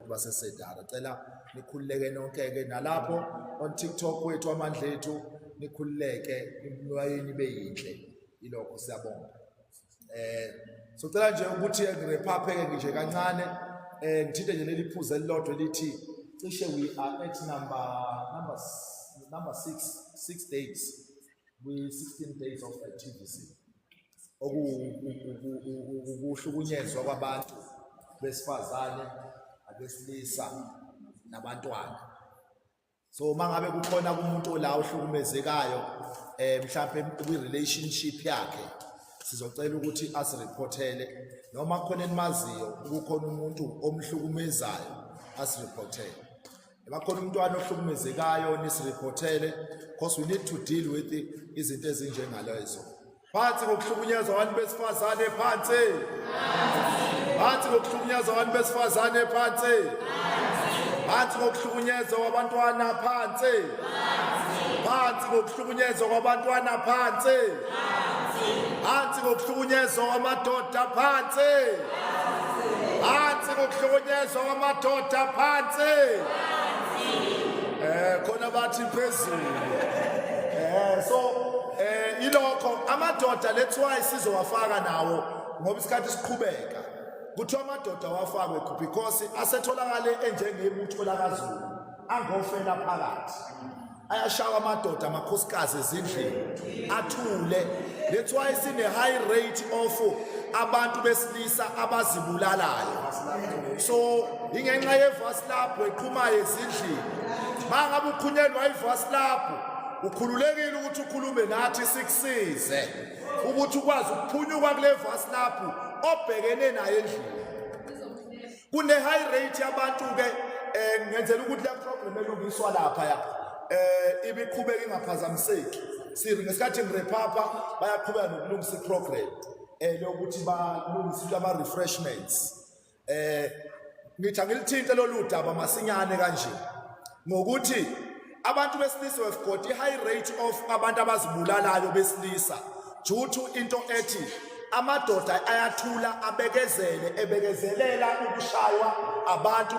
basesedara cela nikhululeke nonke-ke nalapho on tiktok wethu amandla ethu nikhululeke imlwayeni ibe yintle ilokho siyabonga eh socela nje ukuthi ngirephapheke nje kancane eh ngithinte nje leli phuze elilodwa elithi cishe we are at number number number 6 6 days we 16 days of activity okuhlukunyezwa kwabantu besifazane abesilisa nabantwana so uma ngabe kukhona umuntu la ohlukumezekayo eh mhlawumbe kwi-relationship yakhe sizocela ukuthi asirephothele noma khona enimaziyo kukhona umuntu omhlukumezayo asirephothele Bakhona umntwana ohlukumezekayo nisirephothele because we need to deal with izinto ezinjengalezo. Phansi ngokuhlukunyezwa abantu besifazane phansi. Phansi ngokuhlukunyezwa abantu besifazane phansi. Phansi ngokuhlukunyezwa kwabantwana phansi. Phansi ngokuhlukunyezwa kwabantwana phansi. phansi ngokuhlukunyezwa kwamadoda phansi phansi ngokuhlukunyezwa kwamadoda phansi eh khona bathi phezulu eh so eh ilokho amadoda let's why sizowafaka nawo ngoba isikhathi siqhubeka kuthiwa amadoda wafakwe because asetholakale enjengebutho lakazulu angofela phakathi ayashawa amadoda amakhosikazi ezindlini athule that's why sine high rate of abantu besilisa abazibulalayo so ingenxa yevasi lapho eqhumayo ezindlini mangabe ukhunyelwa ivasi lapho ukhululekile ukuthi ukhulume nathi sikusize ukuthi ukwazi ukuphunyuka kule vasi lapho obhekene naye endlini kune high rate yabantu ke eh ngenzela ukuthi le problem elungiswa lapha ya eh ibiqhubeka ingaphazamiseki siri ngesikhathi ngirephapha bayaqhubeka nokulungisa iprogram eh lokuthi balungise lama refreshments eh ngithi angilithinte lolu daba masinyane kanje ngokuthi abantu besilisa have got i-high rate of abantu abazibulalayo besilisa due to into ethi amadoda ayathula abekezele ebekezelela ukushaywa abantu